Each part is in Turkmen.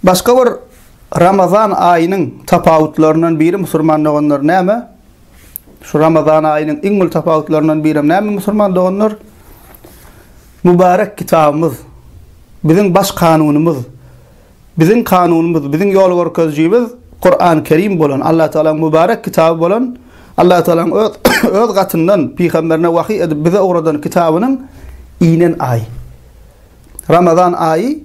Başga bir Ramazan aýynyň tapawutlaryndan biri musulman doganlar näme? Şu Ramazan aýynyň iň uly tapawutlaryndan biri näme musulman doganlar? Mübarek kitabymyz, biziň baş kanunymyz Biziň kanunymyz, biziň ýol görkezijimiz Kurany Kerim bolan, Allatagalaň mübarek kitaby bolan, Allatagalaň öz öz gatyndan pygamberine wahyý edip bize ugradan kitabynyň inen aýy. Ramazan aýy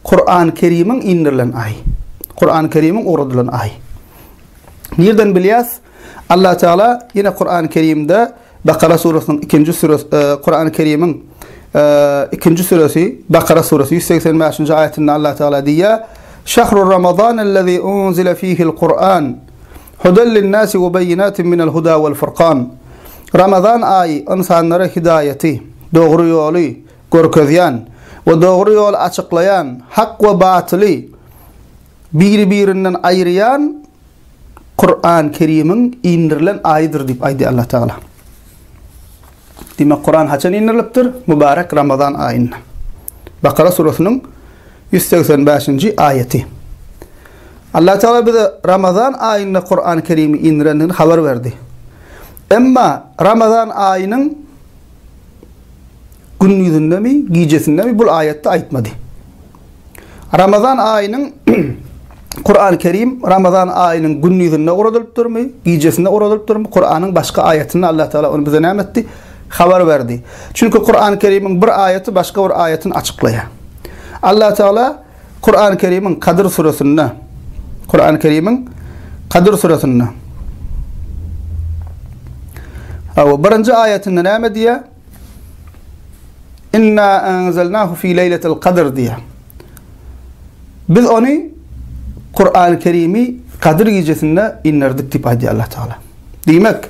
Kurany Kerimiň indirilen aýy. Kurany Kerimiň ugradylan aýy. Nirden bilýäs? Allatagala ýene Kurany Kerimde Bakara surasynyň ikinji süresi, Kurany Kerimiň ikinji süresi, Bakara surasynyň ýüz segsen bäşinji aýatynda Allah Tagala diýýär, Şahru Ramazan allazi unzile fihil Kur'an, hudel linnasi we beyyinatin minel huda wal furkan. Ramazan aýy ynsanlara hidaýaty, dogry ýoly, görkezýän we dogry ýoly açyklaýan, hak we batyly biri-birinden aýyrýan Kuran Kerimiň indirilen aýydyr diýip aýdýar Allah Tagala. Diýmek, Kuran haçan indirilipdir? Mübarek Ramazan aýynda. Bakara surasynyň 185-nji aýaty. Allah Tagala bize Ramazan aýynda Kuran Kerimi indirendigini habar berdi. Emma Ramazan aýynyň gündizindemi, gijesindemi bul aýatda aýtmady. Ramazan aýynyň Kurany Kerim Ramazan aýynyň gündizinde oradylypdyrmy, gijesinde oradylypdyrmy? Kuranyň başga aýatynda Allah Taala ony bize näme etdi? Habar berdi. Çünki Kurany Kerimiň bir aýaty başga bir aýatyny açyklaýar. Allah Taala Kurany Kerimiň Kadyr suresinde Kurany Kerimiň Kadyr suresinde Awa birinji aýatynda näme diýýär? Inna anzalnahu fi leýletil kadr diýýär. Biz ony Kur'an-ı Kerim'i Kadir gecesinde indirdik diýip aýdýar Allah Teala. Diýmek,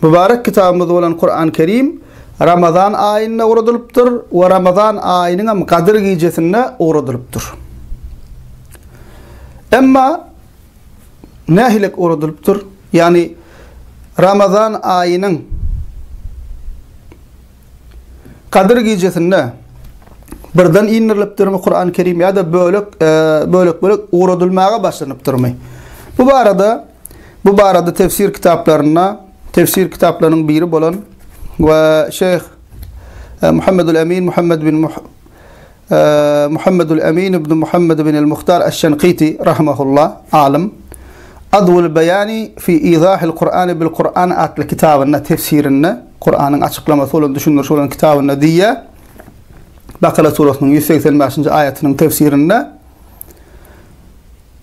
mübarek kitabymyz bolan Kur'an-ı Kerim Ramazan aýynda ugradylypdyr we Ramazan aýynyň hem Kadir gecesinde ugradylypdyr. Emma nähili ugradylypdyr? Ýagny Ramazan aýynyň Kadyr gijesinde birden indirilipdirmi Kur'an-ı Kerim ya da bölek e, bölek bölek ugradylmaga başlanypdyrmy? Bu barada bu barada tefsir kitaplarynda tefsir kitaplarının biri bolan ve Şeyh e, Muhammedul Emin Muhammed bin Muh Muhammedul Emin ibn Muhammed ibn al-Muhtar aş-Şenkiti rahimehullah, alym, Adwul Beýani fi Izahil Kur'ani bil Kur'an atly kitabynda, tefsirinde, Kur'anyň açyklamasy bolan, düşündirişi bolan kitabynda diýýär, Bakara surasynyň ýüz segsen bäşinji aýatynyň tefsirinde,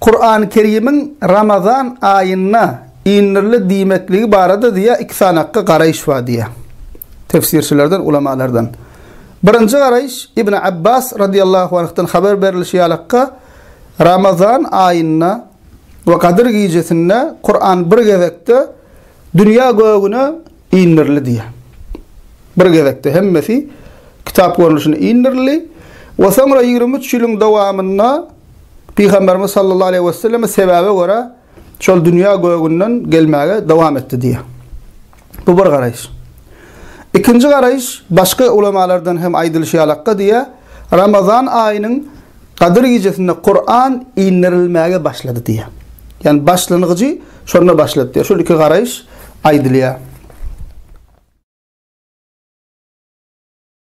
Kurany Kerimiň Ramazan aýynda inirli diýmekligi barada diýýär iki sanakga garaýyş bar diýýär. Tefsirçilerden, ulamalardan. Birinji garaýyş Ibn Abbas radiyallahu anhdan haber berilişi ýalykka Ramazan aýynda we Gadyr gijesinde Kuran bir gezekde dünýä gögüne Indirli diýýär. Bir gezekde hemmesi kitap görnüşinde indirldi we soňra ýigrimi üç ýylyň dowamynda Pygamberimiz sallallahu aleýhi we selleme sebäbe görä şol dünýä gögünden gelmäge dowam etdi diýýär. Bu bir garaýyş. Ikinji garaýyş başga ulemalardan hem aýdylyşy ýalakka diýýär, Ramazan aýynyň Gadyr gijesinde Kuran inderilmäge başlady diýýär. Ýagny başlangyjy şonda başlady diýýär. Şol iki garaýyş aýdylýar.